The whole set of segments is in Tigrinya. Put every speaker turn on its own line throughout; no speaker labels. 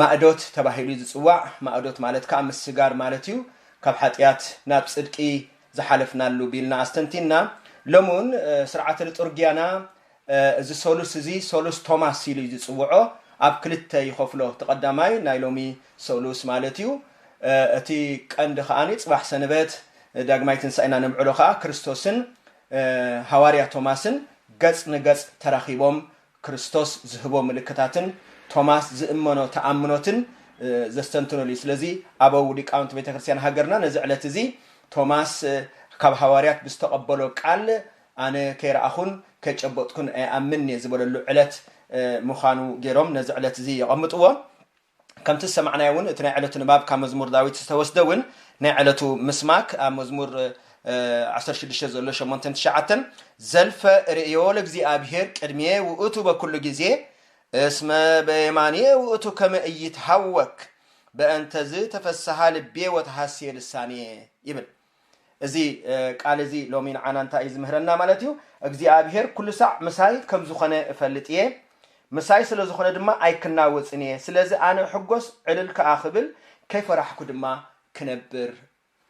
ማእዶት ተባሂሉ ዝጽዋዕ፣ ማእዶት ማለት ከኣ ምስጋር ማለት እዩ፣ ካብ ሓጥያት ናብ ጽድቂ ዝሓለፍናሉ ቢልና ኣስተንቲንና። ሎሚ ውን ስርዓተ ልጡርጊያና እዚ ሰሉስ እዚ ሰሉስ ቶማስ ኢሉ እዩ ዝጽውዖ፣ ኣብ ክልተ ይኸፍሎ፣ እቲ ቀዳማይ ናይ ሎሚ ሰሉስ ማለት እዩ፣ እቲ ቀንዲ ከኣ ጽባሕ ሰንበት ዳግማይ ትንሳኤና ነብዕሎ ከኣ ክርስቶስን ሃዋርያ ቶማስን ገጽ ንገጽ ተራኺቦም ክርስቶስ ዝህቦ ምልክታትን ቶማስ ዝእመኖ ተኣምኖትን ዘስተንትኑሉ እዩ። ስለዚ ኣበው ሊቃውንቲ ቤተ ክርስቲያን ሃገርና ነዚ ዕለት እዚ ቶማስ ካብ ሃዋርያት ብዝተቐበሎ ቃል ኣነ ከይረኣኹን ከይጨበጥኩን ኣይኣምንን እየ ዝበለሉ ዕለት ምዃኑ ገይሮም ነዚ ዕለት እዚ የቐምጥዎ። ከምቲ ዝሰማዕናዮ እውን እቲ ናይ ዕለቱ ንባብ ካብ መዝሙር ዳዊት ዝተወስደ እውን ናይ ዕለቱ ምስማክ ኣብ መዝሙር ዓሰርተ ሽዱሽተ ዘሎ ሸሞንተን ትሽዓተን ዘልፈ ርእዮ ለእግዚኣብሄር ቅድሜ ውእቱ በኩሉ ግዜ እስመ በየማንየ ውእቱ ከመ እይትሃወክ በእንተዝ ተፈስሃ ልቤ ወተሃሴ ልሳኔ ይብል። እዚ ቃል እዚ ሎሚ ንዓና እንታይ እዩ ዝምህረና ማለት እዩ? እግዚኣብሄር ኩሉ ሳዕ ምሳይ ከም ዝኾነ እፈልጥ እየ፣ ምሳይ ስለ ዝኾነ ድማ ኣይክናወጽን እየ፣ ስለዚ ኣነ እሕጎስ ዕልል ከኣ ክብል፣ ከይፈራሕኩ ድማ ክነብር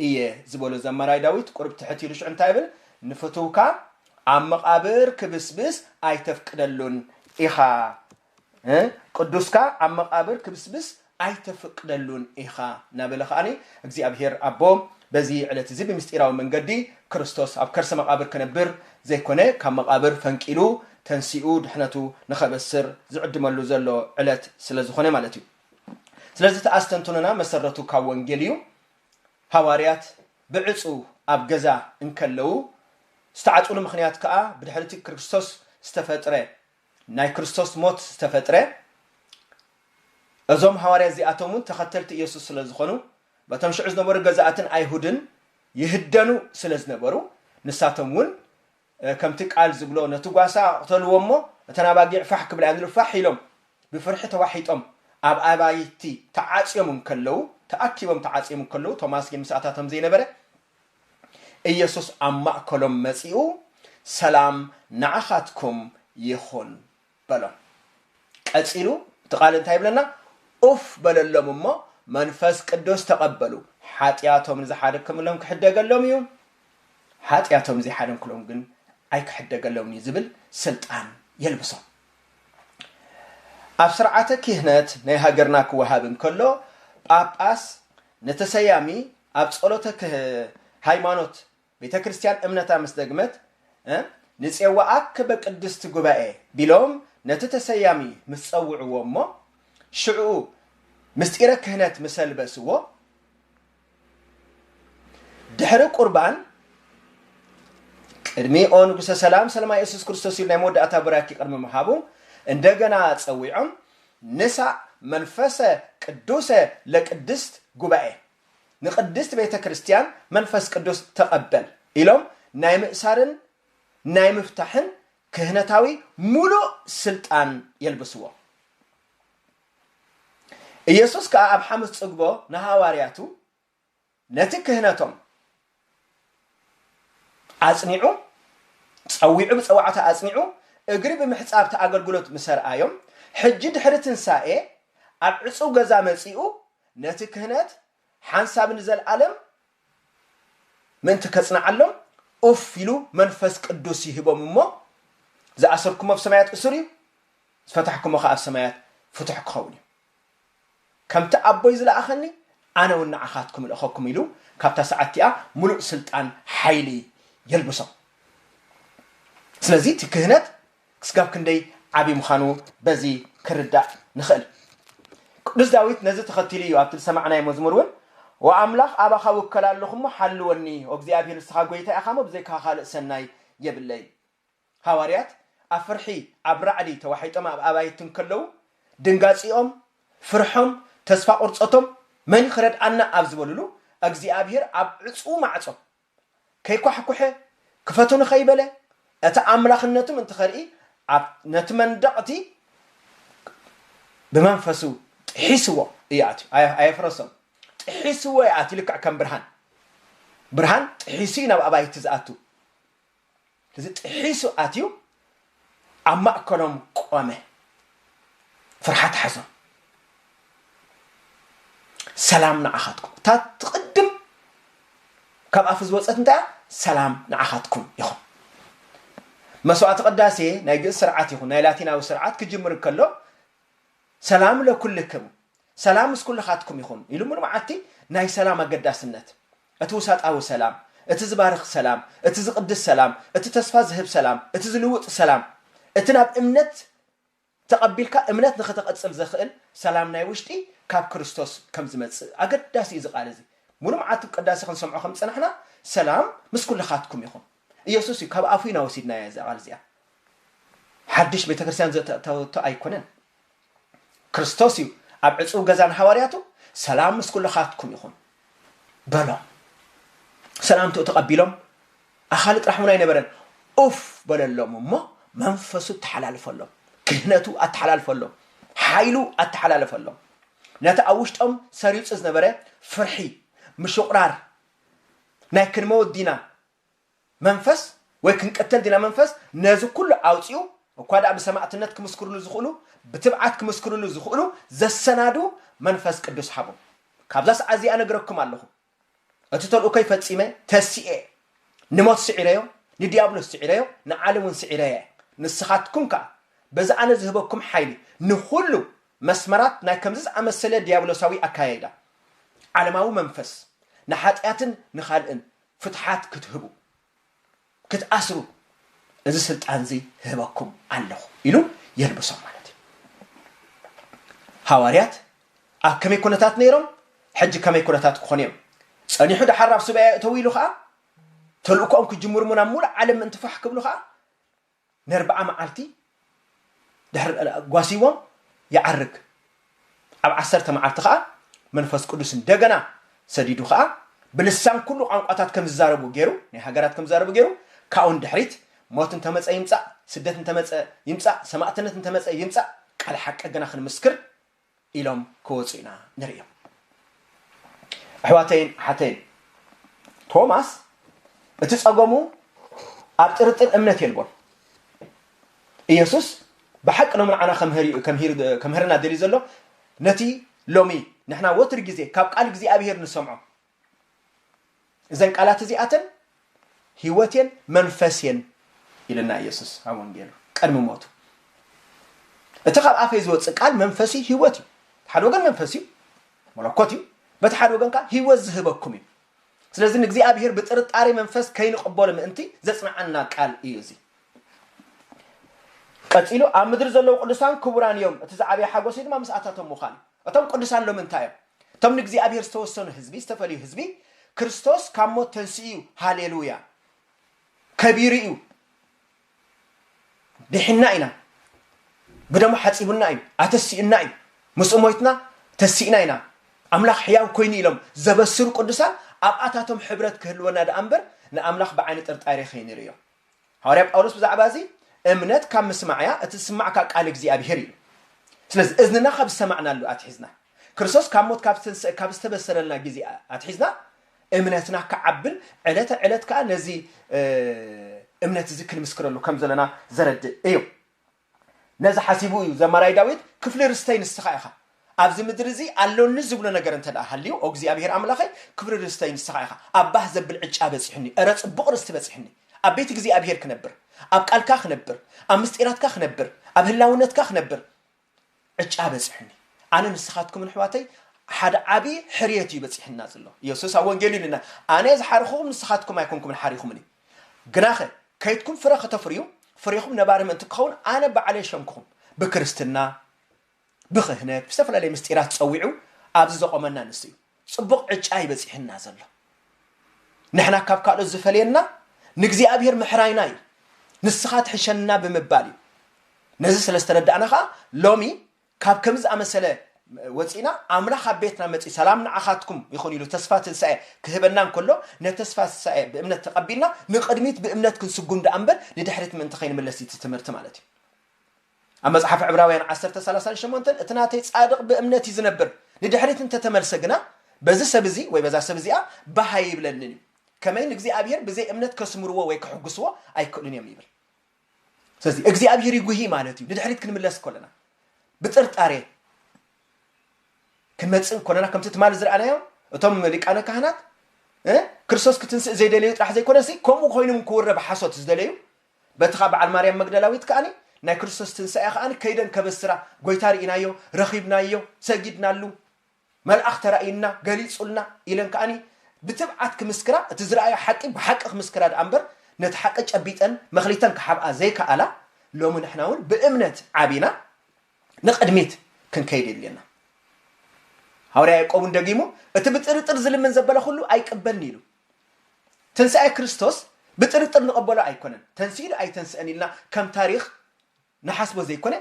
እየ ዝበሎ ዘማራይ ዳዊት ቁሩብ ትሕት ኢሉ ሽዑ እንታይ ይብል? ንፍትውካ ኣብ መቓብር ክብስብስ ኣይተፍቅደሉን ኢኻ እ ቅዱስካ ኣብ መቓብር ክብስብስ ኣይተፍቅደሉን ኢኻ እናበለ ኸኣ እግዚኣብሄር ኣቦ በዚ ዕለት እዚ ብምስጢራዊ መንገዲ ክርስቶስ ኣብ ከርሰ መቓብር ክነብር ዘይኮነ ካብ መቓብር ፈንቂሉ ተንሲኡ ድሕነቱ ንኸበስር ዝዕድመሉ ዘሎ ዕለት ስለ ዝኾነ ማለት እዩ። ስለዚ እቲ ኣስተንትኖና መሰረቱ ካብ ወንጌል እዩ። ሃዋርያት ብዕጹው ኣብ ገዛ እንከለዉ ዝተዓጽሉ ምኽንያት ከኣ ብድሕሪ እቲ ክርስቶስ ዝተፈጥረ ናይ ክርስቶስ ሞት ዝተፈጥረ እዞም ሃዋርያ እዚኣቶም እውን ተኸተልቲ እየሱስ ስለ ዝኾኑ በቶም ሽዑ ዝነበሩ ገዛእትን ኣይሁድን ይህደኑ ስለ ዝነበሩ ንሳቶም እውን ከምቲ ቃል ዝብሎ ነቲ ጓሳ ቅተልዎ እሞ እተን ኣባጊዕ ፋሕ ክብላ እዮም ዝብሉ ፋሕ ኢሎም ብፍርሒ ተዋሒጦም ኣብ ኣባይቲ ተዓፅዮም እንከለዉ ተኣኪቦም ተዓፅዮም እንከለዉ ቶማስ ግን ምስኣታቶም ዘይነበረ ኢየሱስ ኣብ ማእከሎም መጺኡ ሰላም ንዓኻትኩም ይኹን በሎም። ቀጺሉ እቲ ቃል እንታይ ይብለና? ኡፍ በለሎም እሞ መንፈስ ቅዱስ ተቐበሉ። ሓጢኣቶም ንዝሓደክምሎም ክሕደገሎም እዩ፣ ሓጢኣቶም ንዘይሓደንክሎም ግን ኣይክሕደገሎምን እዩ ዝብል ስልጣን የልብሶም። ኣብ ስርዓተ ክህነት ናይ ሃገርና ክወሃብ እንከሎ ጳጳስ ንተሰያሚ ኣብ ጸሎተ ክህ ሃይማኖት ቤተ ክርስቲያን እምነታ ምስ ደግመት እ ንጼዋኣክ በቅድስት ጉባኤ ቢሎም ነቲ ተሰያሚ ምስ ጸውዕዎ እሞ ሽዕኡ ምስጢረ ክህነት ምሰ ልበስዎ ድሕሪ ቁርባን ቅድሚ ኦ ንጉሰ ሰላም ሰለማ የሱስ ክርስቶስ ኢሉ ናይ መወዳእታ ቡራኪ ቅድሚ ምሃቡ እንደገና ጸዊዖም ንሳእ መንፈሰ ቅዱሰ ለቅድስት ጉባኤ፣ ንቅድስት ቤተ ክርስቲያን መንፈስ ቅዱስ ተቐበል ኢሎም ናይ ምእሳርን ናይ ምፍታሕን ክህነታዊ ምሉእ ስልጣን የልብስዎ። ኢየሱስ ከኣ ኣብ ሓሙስ ጽግቦ ንሃዋርያቱ፣ ነቲ ክህነቶም ኣጽኒዑ ጸዊዑ ብጸዋዕታ ኣጽኒዑ እግሪ ብምሕጻብ እቲ ኣገልግሎት ምስ ኣርኣዮም ሕጂ ድሕሪ ትንሳኤ ኣብ ዕጹው ገዛ መጺኡ ነቲ ክህነት ሓንሳብ ንዘልኣለም ምእንቲ ከጽንዓሎም ኡፍ ኢሉ መንፈስ ቅዱስ ይህቦም እሞ ዝኣሰርኩሞ ኣብ ሰማያት እሱር እዩ ዝፈታሕኩሞ ከኣ ኣብ ሰማያት ፍቱሕ ክኸውን እዩ። ከምቲ ኣቦይ ዝለኣኸኒ ኣነ ውን ንዓኻትኩም እልእኸኩም ኢሉ ካብታ ሰዓት እቲኣ ምሉእ ስልጣን ሓይሊ የልብሶም። ስለዚ እቲ ክህነት ክስጋብ ክንደይ ዓቢ ምዃኑ በዚ ክርዳእ ንኽእል። ቅዱስ ዳዊት ነዚ ተኸቲሉ እዩ ኣብቲ ዝሰማዕናዮ መዝሙር ውን ኦ ኣምላኽ ኣባኻ እውከል ኣሎኹ እሞ ሓልወኒ ኦ እግዚኣብሄር ንስኻ ጎይታይ ኢኻ እሞ ብዘይካኻ ካልእ ሰናይ የብለይን። ሃዋርያት ኣብ ፍርሒ ኣብ ራዕዲ ተዋሒጦም ኣብ ኣባይቲ እንከለዉ ድንጋጺኦም ፍርሖም ተስፋ ቁርጸቶም መን ኽረድኣና ኣብ ዝበሉሉ ኣግዚኣብሄር ኣብ ዕጽዉ ማዕጾ ከይኳሕኩሐ ክፈቱኒ ከይበለ እቲ ኣምላኽነቱም እንትኸርኢ ኣብ ነቲ መንደቕ እቲ ብመንፈሱ ጥሒስዎ እዩ ኣትዩ ኣየፍረሶም ጥሒስዎ እዩ ኣትዩ ልክዕ ከም ብርሃን ብርሃን ጥሒሱ እዩ ናብ ኣባይቲ ዝኣቱ እዚ ጥሒሱ ኣትዩ ኣብ ማእከሎም ቆመ። ፍርሓት ሓዞም። ሰላም ንዓኻትኩም። እታ ትቕድም ካብ ኣፍ ዝወፀት እንታይ እያ? ሰላም ንዓኻትኩም ይኹን። መስዋዕቲ ቅዳሴ ናይ ግእዝ ስርዓት ይኹን ናይ ላቲናዊ ስርዓት ክጅምር ከሎ ሰላም ለኩልክም ሰላም ምስ ኩልኻትኩም ይኹን ኢሉ ሙሉ መዓልቲ ናይ ሰላም ኣገዳስነት እቲ ውሳጣዊ ሰላም፣ እቲ ዝባርኽ ሰላም፣ እቲ ዝቕድስ ሰላም፣ እቲ ተስፋ ዝህብ ሰላም፣ እቲ ዝልውጥ ሰላም፣ እቲ ናብ እምነት ተቐቢልካ እምነት ንኸተቐጽል ዘኽእል ሰላም ናይ ውሽጢ ካብ ክርስቶስ ከም ዝመጽእ ኣገዳሲ እዩ እዚ ቃል እዚ ሙሉ መዓልቲ ቅዳሴ ክንሰምዖ ከም ዝጸናሕና ሰላም ምስ ኩልኻትኩም ይኹን ኢየሱስ እዩ ካብ ኣፉ ኢና ወሲድናያ እዛ ቃል እዚኣ ሓድሽ ቤተክርስትያን ዘተእተወቶ ኣይኮነን ክርስቶስ እዩ ኣብ ዕጹው ገዛ ንሃዋርያቱ ሰላም ምስ ኩልኻትኩም ይኹን በሎም ሰላምትኡ ተቐቢሎም ኣኻሊ ጥራሕ እውን ኣይነበረን ኡፍ በለሎም እሞ መንፈሱ ተሓላልፈሎም ክህነቱ ኣተሓላልፈሎም ሓይሉ ኣተሓላለፈሎም ነቲ ኣብ ውሽጦም ሰሪጹ ዝነበረ ፍርሒ ምሽቑራር ናይ ክንመውት ዲና መንፈስ ወይ ክንቅተል ዲና መንፈስ ነዚ ኩሉ ኣውጺኡ እኳ ድኣ ብሰማእትነት ክምስክርሉ ዝኽእሉ ብትብዓት ክምስክርሉ ዝኽእሉ ዘሰናዱ መንፈስ ቅዱስ ሃቦም ካብዛ ሰዓት እዚኣ ነግረኩም ኣለኹ እቲ ተልእኮይ ፈጺመ ተሲኤ ንሞት ስዒረዮ ንዲያብሎስ ስዒረዮ ንዓለም እውን ስዒረየ ንስኻትኩም ከኣ በዚ ኣነ ዝህበኩም ሓይሊ ንኹሉ መስመራት ናይ ከምዚ ዝኣመሰለ ዲያብሎሳዊ ኣካያይዳ ዓለማዊ መንፈስ ንሓጢኣትን ንኻልእን ፍትሓት ክትህቡ፣ ክትኣስሩ እዚ ስልጣንዚ እህበኩም ኣለኹ ኢሉ የልብሶም ማለት እዩ። ሃዋርያት ኣብ ከመይ ኩነታት ነይሮም፣ ሕጂ ከመይ ኩነታት ክኾኑ እዮም? ጸኒሑ ደሓር ናብ ሱባኤ እተዉ ኢሉ ኸኣ ተልእኮኦም ክጅምሩ ናብ ምሉእ ዓለም ምእንቲ ፋሕ ክብሉ ኸኣ ነርብዓ መዓልቲ ድሕሪ ጓስይዎም ይዓርግ። ኣብ ዓሰርተ መዓልቲ ኸኣ መንፈስ ቅዱስ እንደገና ሰዲዱ ኸኣ ብልሳን ኩሉ ቛንቋታት ከም ዝዛረቡ ገይሩ፣ ናይ ሃገራት ከም ዝዛረቡ ገይሩ፣ ካብኡ ንድሕሪት ሞት እንተ መጸ ይምጻእ፣ ስደት እንተ መጸ ይምጻእ፣ ሰማእትነት እንተ መጸ ይምጻእ፣ ቃል ሓቂ ግና ክንምስክር ኢሎም ክወጹ ኢና ንርእዮም። ኣሕዋተይን ኣሓተይን፣ ቶማስ እቲ ጸገሙ ኣብ ጥርጥር እምነት የልቦን። ኢየሱስ ብሓቂ ሎሚ ንዓና ከምህርና ደልዩ ዘሎ ነቲ ሎሚ ንሕና ወትር ግዜ ካብ ቃል እግዚኣብሔር ንሰምዖ እዘን ቃላት እዚኣተን ህይወት እየን መንፈስ እየን ኢለና ኢየሱስ ኣብ ወንጌሉ ቀድሚ ሞቱ እቲ ካብ ኣፈይ ዝወፅእ ቃል መንፈስ እዩ ህይወት እዩ ሓደ ወገን መንፈስ እዩ መለኮት እዩ በቲ ሓደ ወገን ከዓ ህይወት ዝህበኩም እዩ ስለዚ ንእግዚኣብሔር ብጥርጣሬ መንፈስ ከይንቕበሎ ምእንቲ ዘጽንዓና ቃል እዩ እዚ ቀጺሉ ኣብ ምድሪ ዘለዉ ቅዱሳን ክቡራን እዮም እቲ ዝዓበየ ሓጎስ ድማ ምስኣታቶም ምዃን እዩ እቶም ቅዱሳን ሎሚ እንታይ እዮም? እቶም ንእግዚኣብሔር ዝተወሰኑ ህዝቢ፣ ዝተፈልዩ ህዝቢ፣ ክርስቶስ ካብ ሞት ተንሲኡ እዩ፣ ሃሌሉያ፣ ከቢሩ እዩ፣ ዲሒንና ኢና፣ ብደሙ ሓጺቡና እዩ፣ ኣተሲኡና እዩ፣ ምስኡ ሞይትና ተሲእና ኢና፣ ኣምላኽ ሕያው ኮይኑ ኢሎም ዘበስሩ ቅዱሳን ኣብኣታቶም ሕብረት ክህልወና ደኣ እምበር ንኣምላኽ ብዓይኒ ጥርጣሬ ከይንርእዮ። ሃዋርያ ጳውሎስ ብዛዕባ እዚ እምነት ካብ ምስማዕ እያ እቲ ዝስማዕካ ቃል እግዚኣብሄር ኢሉ ስለዚ እዝንና ካብ ዝሰማዕናሉ ኣትሒዝና ክርስቶስ ካብ ሞት ካብ ዝተንስእ ካብ ዝተበሰረልና ግዜ ኣትሒዝና እምነትና ክዓብን ዕለተ ዕለት ከዓ ነዚ እምነት እዚ ክንምስክረሉ ከም ዘለና ዘረድእ እዩ ነዚ ሓሲቡ እዩ ዘማራይ ዳዊት ክፍሊ ርስተይ ንስኻ ኢኻ ኣብዚ ምድሪ እዚ ኣሎኒ ዝብሎ ነገር እንተ ደኣ ሃልዩ ኦግዚኣብሄር ኣምላኸይ ክፍሪ ርስተይ ንስኻ ኢኻ ኣብ ባህ ዘብል ዕጫ በጺሑኒ እረ ጽቡቕ ርስቲ በጺሕኒ ኣብ ቤት እግዚኣብሄር ክነብር ኣብ ቃልካ ክነብር ኣብ ምስጢራትካ ክነብር ኣብ ህላውነትካ ክነብር ዕጫ በጽሑኒ ኣነ ንስኻትኩምን ኣሕዋተይ ሓደ ዓቢ ሕርየት እዩ በጺሑና ዘሎ የሱስ ኣብ ወንጌሉ ኢሉና ኣነ ዝሓርኹኹም ንስኻትኩም ኣይኮንኩምን ሓሪኹምኒ ግናኸ ከይትኩም ፍረ ከተፍርዩ ፍሬኹም ነባሪ ምእንቲ ክኸውን ኣነ ባዕለይ ሸምኩኹም ብክርስትና ብክህነት ብዝተፈላለየ ምስጢራት ጸዊዑ ኣብዚ ዘቆመና ንሱ እዩ ጽቡቕ ዕጫ እዩ በጺሑና ዘሎ። ንሕና ካብ ካልኦት ዝፈልየና ንእግዚኣብሄር ምሕራይና እዩ፣ ንስኻ ትሕሸና ብምባል እዩ። ነዚ ስለ ዝተረዳእና ኸኣ ሎሚ ካብ ከምዚ ዝኣመሰለ ወጺእና ኣምላኽ ኣብ ቤትና መጺኡ ሰላም ንዓኻትኩም ይኹን ኢሉ ተስፋ ትንሳኤ ክህበና እንከሎ ነቲ ተስፋ ትንሳኤ ብእምነት ተቐቢልና ንቕድሚት ብእምነት ክንስጉም ደኣ እምበር ንድሕሪት ምእንቲ ከይንምለስ እዩ እቲ ትምህርቲ ማለት እዩ። ኣብ መጽሓፍ ዕብራውያን ዓሰርተ ሰላሳን ሸሞንተን እቲ ናተይ ጻድቕ ብእምነት እዩ ዝነብር ንድሕሪት እንተተመልሰ ግና በዚ ሰብ እዚ ወይ በዛ ሰብ እዚኣ ባህ ኣይብለንን እዩ ከመይ ንእግዚኣብሔር ብዘይ እምነት ከስምርዎ ወይ ክሕግስዎ ኣይክእሉን እዮም ይብል ስለዚ እግዚኣብሔር ይጉሂ ማለት እዩ ንድሕሪት ክንምለስ ኮለና ብጥርጣሬ ክንመፅእ ኮለና ከምቲ ትማሊ ዝረኣናዮ እቶም ሊቃነ ካህናት ክርስቶስ ክትንስእ ዘይደለዩ ጥራሕ ዘይኮነሲ ከምኡ ኮይኖም ክውረብ ሓሶት ዝደለዩ በቲ ኻብ በዓል ማርያም መግደላዊት ከኣ ናይ ክርስቶስ ትንሳኤ ኸኣ ከይደን ከበስራ ጐይታ ርኢናዮ፣ ረኺብናዮ፣ ሰጊድናሉ፣ መልኣኽ ተራእዩና፣ ገሊጹልና ኢለን ከኣ ብትብዓት ክምስክራ እቲ ዝረኣዮ ሓቂ ብሓቂ ክምስክራ ደኣ እምበር ነቲ ሓቂ ጨቢጠን መክሊተን ክሓብኣ ዘይከኣላ ሎሚ ንሕና እውን ብእምነት ዓቢና ንቕድሚት ክንከይድ የድልየና። ሃዋርያ ያዕቆብ እውን ደጊሙ እቲ ብጥርጥር ዝልምን ዘበለ ኹሉ ኣይቅበልን ኢሉ። ትንሳኤ ክርስቶስ ብጥርጥር ንቐበሎ ኣይኮነን። ተንሲኡ ዶ ኣይተንስእን ኢልና ከም ታሪኽ ንሓስቦ ዘይኮነ፣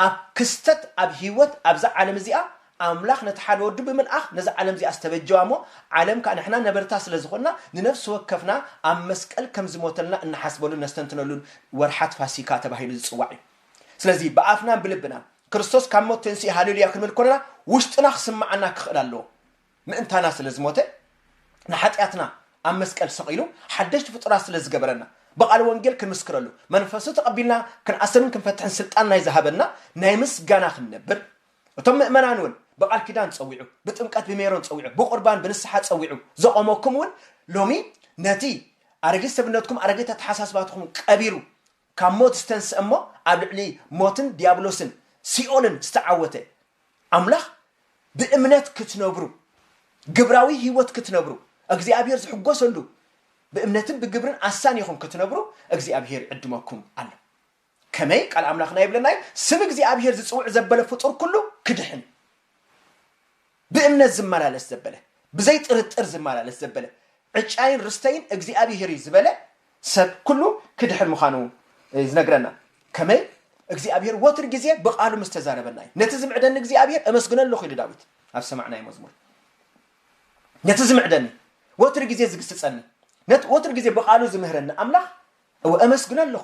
ኣብ ክስተት ኣብ ህይወት ኣብዛ ዓለም እዚኣ ኣምላኽ ነቲ ሓደ ወዱ ብምልኣኽ ነዛ ዓለም እዚኣ ዝተበጀዋ እሞ ዓለም ከኣ ንሕና ነበርታ ስለ ዝኾንና ንነፍሲ ወከፍና ኣብ መስቀል ከም ዝሞተልና እንሓስበሉን ነስተንትነሉን ወርሓት ፋሲካ ተባሂሉ ዝጽዋዕ እዩ። ስለዚ ብኣፍናን ብልብናን ክርስቶስ ካብ ሞት ተንሲኡ ሃሌሉያ ክንብል ከሎና ውሽጥና ክስምዓና ክኽእል ኣለዎ። ምእንታና ስለ ዝሞተ ንሓጢኣትና ኣብ መስቀል ሰቒሉ ሓደሽቲ ፍጡራት ስለ ዝገበረና ብቓል ወንጌል ክንምስክረሉ መንፈሱ ተቐቢልና ክንኣስርን ክንፈትሕን ስልጣን ናይ ዝሃበና ናይ ምስጋና ክንነብር እቶም ምእመናን እውን ብቓል ኪዳን ጸዊዑ ብጥምቀት ብሜሮን ጸዊዑ ብቑርባን ብንስሓ ጸዊዑ ዘቖመኩም እውን ሎሚ ነቲ ኣረጊት ሰብነትኩም ኣረጊት ኣተሓሳስባትኩም ቀቢሩ ካብ ሞት ዝተንስእ እሞ ኣብ ልዕሊ ሞትን ዲያብሎስን ሲኦልን ዝተዓወተ ኣምላኽ ብእምነት ክትነብሩ፣ ግብራዊ ህይወት ክትነብሩ፣ እግዚኣብሄር ዝሕጎሰሉ ብእምነትን ብግብርን ኣሳኒኹም ክትነብሩ እግዚኣብሄር ይዕድመኩም ኣሎ። ከመይ ቃል ኣምላኽና ይብለና እዩ ስም እግዚኣብሄር ዝጽውዕ ዘበለ ፍጡር ኩሉ ክድሕን ብእምነት ዝመላለስ ዘበለ ብዘይ ጥርጥር ዝመላለስ ዘበለ ዕጫይን ርስተይን እግዚኣብሄር እዩ ዝበለ ሰብ ኩሉ ክድሕን ምዃኑ እዩ ዝነግረና። ከመይ? እግዚኣብሄር ወትሩ ግዜ ብቓሉ ምስ ተዛረበና እዩ። ነቲ ዝምዕደኒ እግዚኣብሄር እመስግኖ ኣለኹ ኢሉ ዳዊት ኣብ ዝሰማዕናዮ መዝሙር። ነቲ ዝምዕደኒ፣ ወትሩ ግዜ ዝግስጸኒ፣ ነቲ ወትሩ ግዜ ብቓሉ ዝምህረኒ ኣምላኽ እወ እመስግኖ ኣለኹ።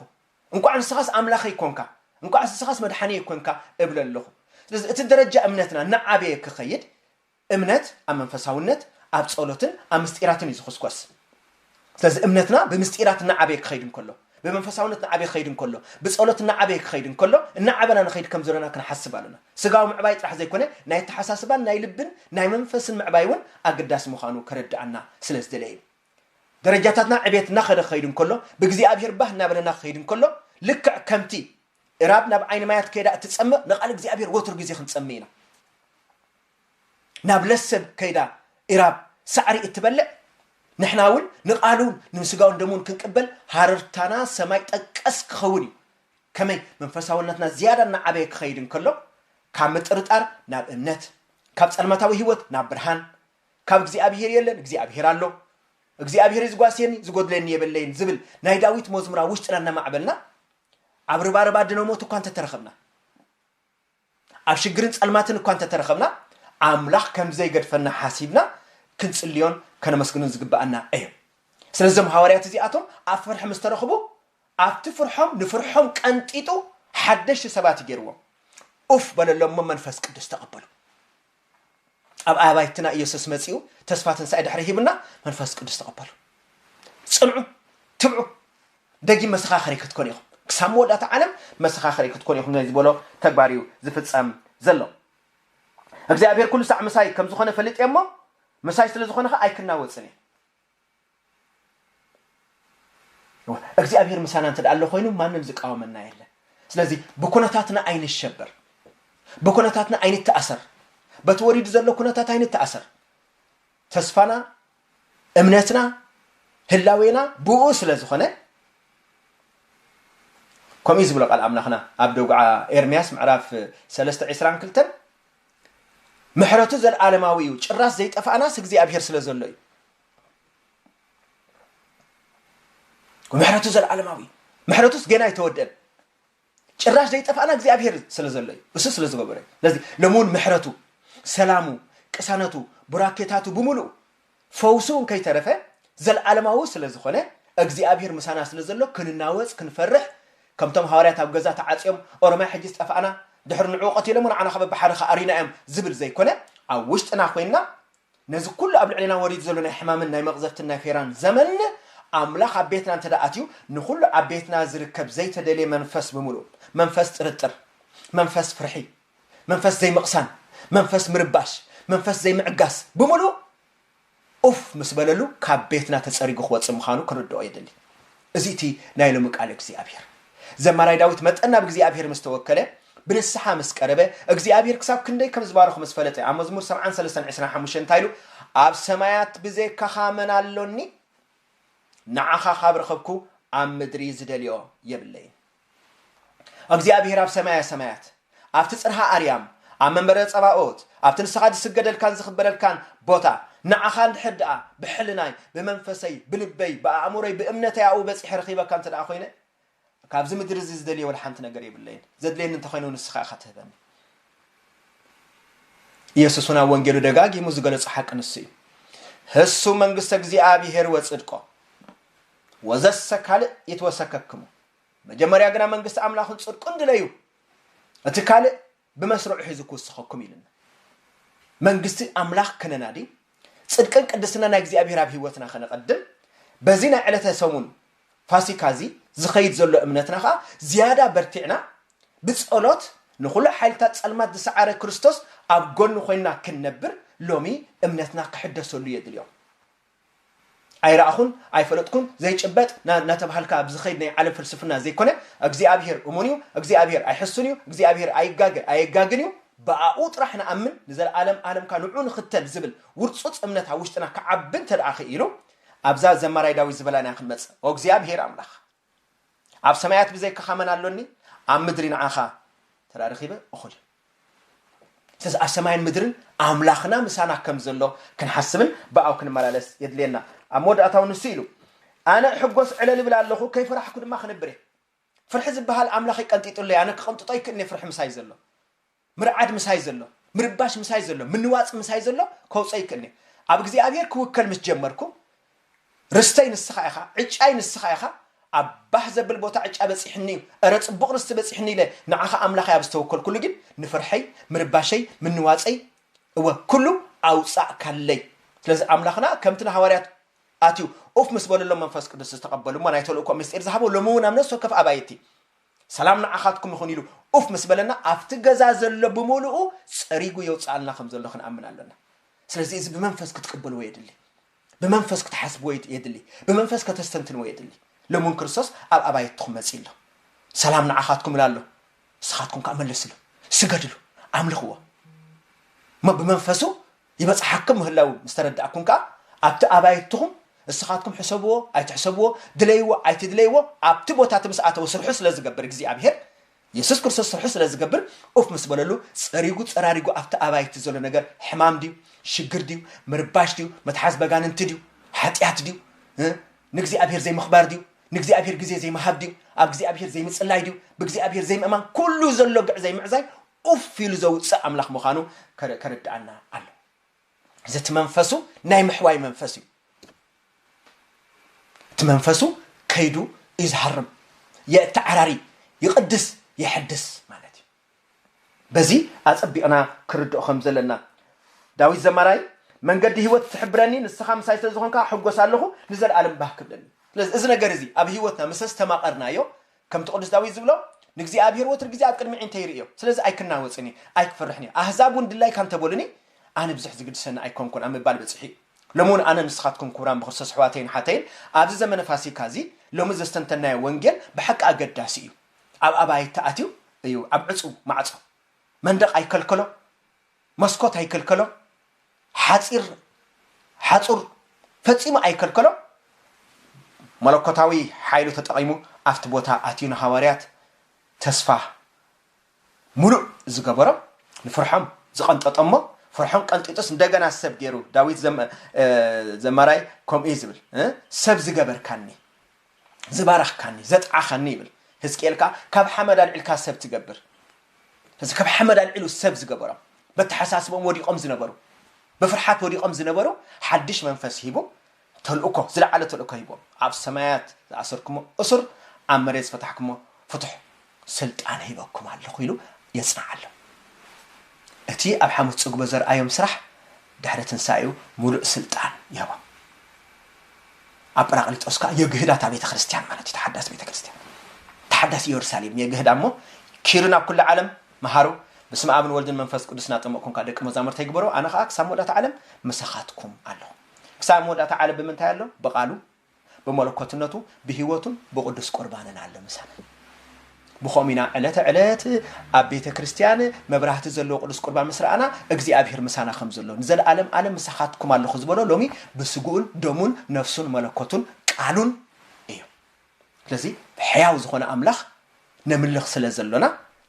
እንቋዕ ንስኻስ ኣምላኸይ ኰንካ፣ እንቋዕስ ንስኻስ መድሓኒየይ ኰንካ እብሎ ኣለኹ። ስለዚ እቲ ደረጃ እምነትና እናዓበየ ክኸይድ እምነት ኣብ መንፈሳውነት፣ ኣብ ጸሎትን ኣብ ምስጢራትን እዩ ዝኹስኮስ። ስለዚ እምነትና ብምስጢራት እናዓበየ ክኸይድ እንከሎ፣ ብመንፈሳውነት እናዓበየ ክኸይድ እንከሎ፣ ብጸሎት እናዓበየ ክኸይድ እንከሎ፣ እናዓበና ንኸይድ ከም ዘሎና ክንሓስብ ኣሎና። ስጋዊ ምዕባይ ጥራሕ ዘይኮነ ናይ ኣተሓሳስባን ናይ ልብን ናይ መንፈስን ምዕባይ እውን ኣገዳሲ ምዃኑ ከረድኣና ስለ ዝደለየ እዩ። ደረጃታትና ዕብየት እናኸደ ክኸይድ እንከሎ፣ ብእግዚኣብሄር ባህ እናበለና ክኸይድ እንከሎ፣ ልክዕ ከምቲ እራብ ናብ ዓይኒ ማያት ከይዳ እትጸምእ ንቓል እግዚኣብሄር ወትሩ ግዜ ክንጸምእ ኢና። ናብ ለሰን ከይዳ ኢራብ ሳዕሪ እትበልዕ ንሕና እውን ንቃሉን ንስጋውን ደሙን ክንቅበል ሃረርታና ሰማይ ጠቀስ ክኸውን እዩ። ከመይ መንፈሳውነትና ዝያዳ እናዓበየ ክኸይድ እንከሎ ካብ ምጥርጣር ናብ እምነት፣ ካብ ጸልማታዊ ህይወት ናብ ብርሃን፣ ካብ እግዚኣብሄር የለን እግዚኣብሄር ኣሎ፣ እግዚኣብሄር እዩ ዝጓስየኒ ዝጎድለኒ የበለይን ዝብል ናይ ዳዊት መዝሙር ኣብ ውሽጥና እናማዕበልና ኣብ ርባርባ ድነ ሞት እኳ እንተተረኸብና ኣብ ሽግርን ጸልማትን እኳ እንተ ተረኸብና፣ ኣምላኽ ከም ዘይገድፈና ሓሲብና ክንጽልዮን ከነመስግኖን ዝግብኣና እዩ። ስለዚ እዞም ሃዋርያት እዚኣቶም ኣብ ፍርሒ ምስ ተረኽቡ፣ ኣብቲ ፍርሖም ንፍርሖም ቀንጢጡ ሓደሽቲ ሰባት እዩ ገይርዎም። ኡፍ በለሎም እሞ መንፈስ ቅዱስ ተቐበሉ። ኣብ ኣባይትና ኢየሱስ መጺኡ ተስፋ ትንሣኤ ድሕሪ ሂቡና መንፈስ ቅዱስ ተቐበሉ ጽንዑ ትብዑ ደጊም መሰኻኸሪ ክትኮኑ ኢኹም ክሳብ መወዳእታ ዓለም መሰኻኸሪ ክትኮኑ ኢኹም ናይ ዝበሎ ተግባር እዩ ዝፍጸም ዘሎ እግዚኣብሔር ኩሉ ሳዕ ምሳይ ከም ዝኾነ ፈሊጥ እየ እሞ ምሳይ ስለ ዝኾነ ኸ ኣይክናወፅን እየ እግዚኣብሔር ምሳና እንተ ኣሎ ኮይኑ ማንም ዝቃወመና የለን። ስለዚ ብኩነታትና ኣይንሸበር፣ ብኩነታትና ኣይንተኣሰር፣ በቲ ወሪዱ ዘሎ ኩነታት ኣይንተኣሰር። ተስፋና እምነትና ህላዌና ብኡ ስለ ዝኾነ ከምኡ ዝብሎ ቃል ኣምላኽና ኣብ ደጉዓ ኤርምያስ ምዕራፍ ሰለስተ ዕስራን ክልተን ምሕረቱ ዘልኣለማዊ እዩ ጭራስ ዘይጠፋእናስ እግዚኣብሔር ስለ ዘሎ እዩ ምሕረቱ ዘልኣለማዊ እዩ ምሕረቱስ ገና ኣይተወደን ጭራሽ ዘይጠፋእና እግዚኣብሔር ስለ ዘሎ እዩ እሱ ስለ ዝገበረ እዩ ስለዚ ሎሚ እውን ምሕረቱ ሰላሙ ቅሳነቱ ቡራኬታቱ ብምሉእ ፈውሱውን ከይተረፈ ዘለዓለማዊ ስለ ዝኾነ፣ እግዚኣብሄር ምሳና ስለ ዘሎ ክንናወጽ ክንፈርሕ ከምቶም ሃዋርያት ኣብ ገዛ ተዓጽዮም ኦሮማይ ሕጂስ ጠፋእና ድሕሪ ንዕኡ ቀቲሎሞ ንዓና ከኣ በብሓደ ከኣ ኣሪና እዮም ዝብል ዘይኮነ ኣብ ውሽጥና ኮይንና ነዚ ኩሉ ኣብ ልዕሌና ወሪዱ ዘሎ ናይ ሕማምን ናይ መቕዘፍትን ናይ ፌራን ዘመን ኣምላኽ ኣብ ቤትና እንተ ኣትዩ ንኹሉ ኣብ ቤትና ዝርከብ ዘይተደልየ መንፈስ ብምሉእ መንፈስ ጥርጥር መንፈስ ፍርሒ መንፈስ ዘይምቕሳን፣ መንፈስ ምርባሽ፣ መንፈስ ዘይምዕጋስ ብምሉእ ኡፍ ምስ በለሉ ካብ ቤትና ተጸሪጉ ክወጽእ ምዃኑ ክንርድኦ የድሊ። እዚ እቲ ናይ ሎሚ ቃል እግዚኣብሄር። ዘማራይ ዳዊት መጠን ናብ እግዚኣብሄር ምስ ተወከለ፣ ብንስሓ ምስ ቀረበ፣ እግዚኣብሄር ክሳብ ክንደይ ከም ዝባረኾ ምስ ፈለጠ፣ ኣብ መዝሙር ሰብዓን ሰለስተን ዕስራን ሓሙሽተን እንታይ ኢሉ? ኣብ ሰማያት ብዜካኻ መን ኣሎኒ? ንዓኻ ካብ ረኸብኩ ኣብ ምድሪ ዝደልዮ የብለይን። እግዚኣብሄር ኣብ ሰማያ ሰማያት ኣብቲ ጽርሃ ኣርያም ኣብ መንበረ ጸባኦት ኣብቲ ንስኻ ዝስገደልካን ዝኽበረልካን ቦታ ንዓኻ እንድሕር ደኣ ብሕልናይ ብመንፈሰይ ብልበይ ብኣእምሮይ ብእምነተይ ኣብኡ በጺሐ ረኺበካ እንተ ደኣ ኮይነ ካብዚ ምድሪ እዚ ዝደልየ ወላ ሓንቲ ነገር የብለይን ዘድልየኒ እንተኮይኑ ንስኻ ኢኻ ትህበኒ ኢየሱስ እውን ኣብ ወንጌሉ ደጋጊሙ ዝገለጾ ሓቂ ንሱ እዩ ህሱ መንግስተ እግዚኣብሔር ወጽድቆ ወዘሰ ካልእ ይትወሰከክሙ መጀመርያ ግና መንግስቲ ኣምላኽን ጽድቁን ድለዩ፣ እቲ ካልእ ብመስርዑ ሒዙ ክውስኸኩም ኢልና። መንግስቲ ኣምላኽ ከነናዲ፣ ጽድቅን ቅድስና ናይ እግዚኣብሔር ኣብ ህይወትና ከነቐድም፣ በዚ ናይ ዕለተ ሰሙን ፋሲካ እዚ ዝኸይድ ዘሎ እምነትና ከኣ ዝያዳ በርቲዕና ብጸሎት ንኹሉ ሓይልታት ጸልማት ዝሰዓረ ክርስቶስ ኣብ ጎኑ ኮይንና ክንነብር ሎሚ እምነትና ክሕደሰሉ የድልዮ። ኣይረኣኹን፣ ኣይፈለጥኩን፣ ዘይጭበጥ ና እናተብሃልካ ኣብ ዝኸይድ ናይ ዓለም ፍልስፍና ዘይኮነ፣ እግዚኣብሄር እሙን እዩ፣ እግዚኣብሄር ኣይሕሱን እዩ፣ እግዚኣብሄር ኣይጋገ ኣየጋግን እዩ፣ ብኣኡ ጥራሕ ንኣምን፣ ንዘለኣለም ኣለምካ ንዕኡ ንኽተል ዝብል ውርጹጽ እምነት ኣብ ውሽጥና ክዓቢ እንተደኣ ክኢሉ፣ ኣብዛ ዘማራይ ዳዊት ዝበላና ክንመጽእ። ኦእግዚኣብሄር ኣምላኽ! ኣብ ሰማያት ብዘይካኻ መን ኣሎኒ ኣብ ምድሪ ንዓኻ ተዳ ረኺበ እኹል ስለዚ ኣብ ሰማይን ምድርን ኣምላኽና ምሳና ከም ዘሎ ክንሓስብን ብኣው ክንመላለስ የድልየና ኣብ መወዳእታው ንሱ ኢሉ ኣነ ሕጎስ ዕለል ይብል ኣለኹ ከይፈራሕኩ ድማ ክነብር እየ ፍርሒ ዝበሃል ኣምላኸይ ቀንጢጡለይ ኣነ ክቕንጥጦ ይክእልኒ ፍርሒ ምሳይ ዘሎ ምርዓድ ምሳይ ዘሎ፣ ምርባሽ ምሳይ ዘሎ፣ ምንዋጽ ምሳይ ዘሎ ከውጽኦ ይክእልን'ዩ። ኣብ እግዚኣብሄር ክውከል ምስ ጀመርኩ፣ ርስተይ ንስኻ ኢኻ፣ ዕጫይ ንስኻ ኢኻ፣ ኣብ ባህ ዘብል ቦታ ዕጫ በጺሑኒ'ዩ፣ እረ ጽቡቕ ርስቲ በጺሑኒ ኢለ ንዓኻ ኣምላኸይ ኣብ ዝተወከልኩሉ ግን ንፍርሐይ፣ ምርባሸይ፣ ምንዋጸይ፣ እወ ኩሉ ኣውጻእካለይ። ስለዚ ኣምላኽና ከምቲ ንሃዋርያት ኣትዩ ኡፍ ምስ በለሎም መንፈስ ቅዱስ ዝተቐበሉ'ሞ ናይ ተልእኮኦም ምስጢር ዝሃቦ ሎሚ'ውን ኣብ ነፍሲ ወከፍ ኣባይቲ ሰላም ንዓኻትኩም ይኹን ኢሉ ኡፍ ምስ በለና ኣብቲ ገዛ ዘሎ ብምሉኡ ጸሪጉ የውጽኣልና ከም ዘሎ ክንኣምን ኣሎና። ስለዚ እዚ ብመንፈስ ክትቅበልዎ የድሊ። ብመንፈስ ክትሓስብዎ የድሊ። ብመንፈስ ከተስተንትንዎ የድሊ። ሎሚ እውን ክርስቶስ ኣብ ኣባይትኹም መጺኡ ኣሎ። ሰላም ንዓኻትኩም እብል ኣሎ። ንስኻትኩም ከኣ መለስሉ፣ ስገድሉ፣ ኣምልኽዎ። እሞ ብመንፈሱ ይበጽሓኩም ምህላዉ ምስ ተረዳእኩም ከኣ ኣብቲ ኣባይትኹም እስኻትኩም ሕሰብዎ ኣይትሕሰብዎ ድለይዎ ኣይትድለይዎ ኣብቲ ቦታ እቲ ምስ ኣተወ ስርሑ ስለ ዝገብር እግዚኣብሄር የሱስ ክርስቶስ ስርሑ ስለ ዝገብር ኡፍ ምስ በለሉ ጸሪጉ ጸራሪጉ ኣብቲ ኣባይቲ ዘሎ ነገር ሕማም ድዩ ሽግር ድዩ ምርባሽ ድዩ መትሓዝ በጋንንቲ ድዩ ሓጢኣት ድዩ ንእግዚኣብሄር ዘይምኽባር ድዩ ንእግዚኣብሄር ግዜ ዘይምሃብ ድዩ ኣብ እግዚኣብሄር ዘይምጽላይ ድዩ ብእግዚኣብሄር ዘይምእማን ኩሉ ዘሎ ግዕዘይ ምዕዛይ ኡፍ ኢሉ ዘውጽእ ኣምላኽ ምዃኑ ከረድኣና ኣለዎ። እዚ እቲ መንፈሱ ናይ ምሕዋይ መንፈስ እዩ። እቲ መንፈሱ ከይዱ እዩ ዝሃርም፣ የእተዓራሪ፣ ይቕድስ፣ የሕድስ ማለት እዩ። በዚ ኣጸቢቕና ክርድኦ ከም ዘለና ዳዊት ዘማራይ መንገዲ ህይወት ትሕብረኒ ንስኻ ምሳይ ስለ ዝኾንካ ሕጎስ ኣለኹ ንዘለኣለም ባህ ክብለኒ። ስለዚ እዚ ነገር እዚ ኣብ ህይወትና ምስ ኣስተማቐርናዮ ከምቲ ቅዱስ ዳዊት ዝብሎ ንእግዚኣብሔር ወትር ግዜ ኣብ ቅድሚ ኣዒንተይ ይርእዮ ስለዚ ኣይክናወጽን እየ ኣይክፍርሕን እየ ኣህዛብ እውን ድላይካ እንተበሉኒ ኣነ ብዙሕ ዝግድሰኒ ኣይኮንኩን ኣብ ምባል በጺሑ እዩ ሎሚ እውን ኣነ ንስኻትኩም ክቡራን ብክርስቶስ ኣሕዋተይን ኣሓተይን ኣብዚ ዘመነ ፋሲካ እዚ ሎሚ ዘስተንተናዮ ወንጌል ብሓቂ ኣገዳሲ እዩ ኣብ ኣባይቲ ኣትዩ እዩ ኣብ ዕጹው ማዕጾ መንደቕ ኣይከልከሎ መስኮት ኣይከልከሎም፣ ሓጺር ሓጹር ፈጺሙ ኣይከልከሎም፣ መለኮታዊ ሓይሉ ተጠቒሙ ኣብቲ ቦታ ኣትዩ ንሃዋርያት ተስፋ ምሉእ ዝገበሮም፣ ንፍርሖም ዝቐንጠጦሞ፣ ፍርሖም ቀንጢጡስ እንደገና ሰብ ገይሩ፣ ዳዊት ዘማራይ ከምኡ እዩ ዝብል፣ ሰብ ዝገበርካኒ። ዝባረኽካኒ ዘጥዓኻኒ ይብል ህዝቅኤል ከኣ ካብ ሓመድ ኣልዒልካ ሰብ ትገብር እዚ ካብ ሓመድ ኣልዒሉ ሰብ ዝገበሮም በተሓሳስቦም ወዲቖም ዝነበሩ ብፍርሓት ወዲቖም ዝነበሩ ሓድሽ መንፈስ ሂቡ ተልእኮ ዝለዓለ ተልእኮ ሂቦም ኣብ ሰማያት ዝኣሰርኩሞ እሱር ኣብ መሬት ዝፈታሕኩሞ ፍቱሕ ስልጣን ሂበኩም ኣለኹ ኢሉ የጽንዓሎም። እቲ ኣብ ሓሙስ ጽግቦ ዘርኣዮም ስራሕ ድሕሪ ትንሳኤኡ ምሉእ ስልጣን ይህቦም። ኣብ ጰራቅሊጦስ ከኣ የግህዳ እታ ቤተ ክርስቲያን ማለት እዩ፣ ተሓዳስ ቤተ ክርስቲያን ተሓዳስ ኢየሩሳሌም የግህዳ እሞ ኪዱ ናብ ኩሉ ዓለም መሃሩ ብስመ ኣብን ወልድን መንፈስ ቅዱስ እናጠመቕኩምካ ደቂ መዛሙርተይ ግበሮ ኣነ ከኣ ክሳብ መወዳእታ ዓለም ምሳኻትኩም ኣለኹ። ክሳብ መወዳእታ ዓለም ብምንታይ ኣሎ? ብቃሉ። ብመለኮትነቱ ብሕይወቱን ብቕዱስ ቁርባንን ኣሎ ምሳና። ብኸምኡ ኢና ዕለተ ዕለት ኣብ ቤተ ክርስቲያን መብራህቲ ዘለዎ ቅዱስ ቁርባን ምስ ረኣና እግዚኣብሔር ምሳና ከም ዘሎ ንዘለኣለም ኣለም ምሳኻትኩም ኣለኹ ዝበሎ ሎሚ ብስግኡን ደሙን ነፍሱን መለኮቱን ቃሉን እዩ። ስለዚ ሕያው ዝኾነ ኣምላኽ ነምልኽ ስለ ዘሎና፣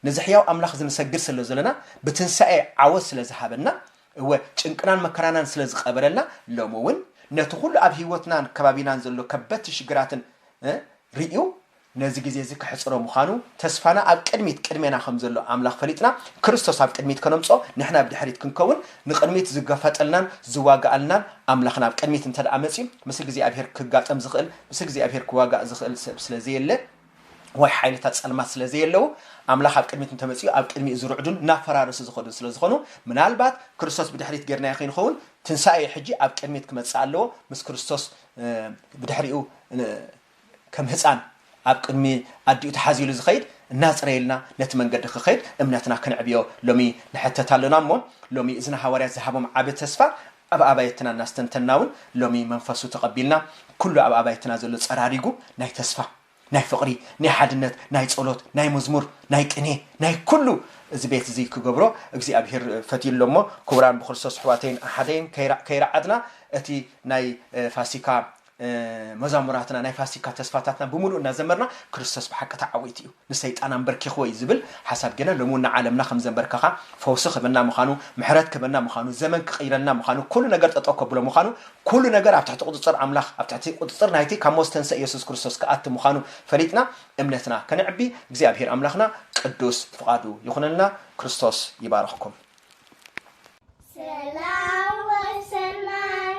ነዚ ሕያው ኣምላኽዚ ንሰግድ ስለ ዘሎና፣ ብትንሳኤ ዓወት ስለ ዝሃበና፣ እወ ጭንቅናን መከራናን ስለ ዝቐበረልና፣ ሎሚ እውን ነቲ ኹሉ ኣብ ህይወትናን ከባቢናን ዘሎ ከበድቲ ሽግራትን ርእዩ ነዚ ግዜ እዚ ከሕጽሮ ምዃኑ፣ ተስፋና ኣብ ቅድሚት ቅድሜና ከም ዘሎ ኣምላኽ ፈሊጥና፣ ክርስቶስ ኣብ ቅድሚት ከነምጽኦ ንሕና ብድሕሪት ክንከውን፣ ንቕድሚት ዝገፈጠልናን ዝዋጋኣልናን ኣምላኽና ኣብ ቅድሚት እንተድኣ መጽዩ ምስ እግዚኣብሔር ክጋጠም ዝኽእል ምስ እግዚኣብሔር ክዋጋእ ዝኽእል ሰብ ስለ ዘየለ፣ ወይ ሓይልታት ጸልማት ስለ ዘየለዉ፣ ኣምላኽ ኣብ ቅድሚት እንተ መጺኡ ኣብ ቅድሚኡ ዝርዕዱን እናፈራረሱ ዝኸዱን ስለ ዝኾኑ፣ ምናልባት ክርስቶስ ብድሕሪት ጌርናዮ ከይንኸውን ትንሳኤኡ ሕጂ ኣብ ቅድሚት ክመጽእ ኣለዎ፣ ምስ ክርስቶስ ብድሕሪኡ ከም ህጻን ኣብ ቅድሚ ኣዲኡ ተሓዚሉ ዝኸይድ እናጽረየልና ነቲ መንገዲ ክኸይድ እምነትና ክንዕብዮ ሎሚ ንሕተት ኣሎና እሞ ሎሚ እዚ ንሃዋርያት ዝሃቦም ዓቢ ተስፋ ኣብ ኣባየትና እናስተንተንና እውን ሎሚ መንፈሱ ተቐቢልና ኩሉ ኣብ ኣባይትና ዘሎ ፀራሪጉ ናይ ተስፋ፣ ናይ ፍቕሪ፣ ናይ ሓድነት፣ ናይ ፀሎት፣ ናይ መዝሙር፣ ናይ ቅኔ፣ ናይ ኩሉ እዚ ቤት እዚ ክገብሮ እግዚኣብሄር ፈትዩ ኣሎ እሞ ክቡራን ብክርስቶስ ኣሕዋተይን ኣሓተይን ከይረዓድና እቲ ናይ ፋሲካ መዛሙራትና ናይ ፋሲካ ተስፋታትና ብምሉኡ እናዘመርና ክርስቶስ ብሓቂ ተዓዊቱ እዩ ንሰይጣን ኣምበርኪኽዎ እዩ ዝብል ሓሳብ ጌና ሎሚ እውን ንዓለምና ከም ዘምበርከኻ ፈውሲ ክህበና ምኻኑ ምሕረት ክህበና ምኻኑ ዘመን ክቕይረልና ምኻኑ ኩሉ ነገር ጠጠው ከብሎ ምኻኑ ኩሉ ነገር ኣብ ትሕቲ ቁጽጽር ኣምላኽ ኣብ ትሕቲ ቁጽጽር ናይቲ ካብ ሞት ዝተንሰእ የሱስ ክርስቶስ ክኣቲ ምኻኑ ፈሊጥና እምነትና ከነዕቢ እግዚኣብሄር ኣምላኽና ቅዱስ ፍቓዱ ይኹነልና ክርስቶስ ይባርኽኩም
ሰላም ወሰናይ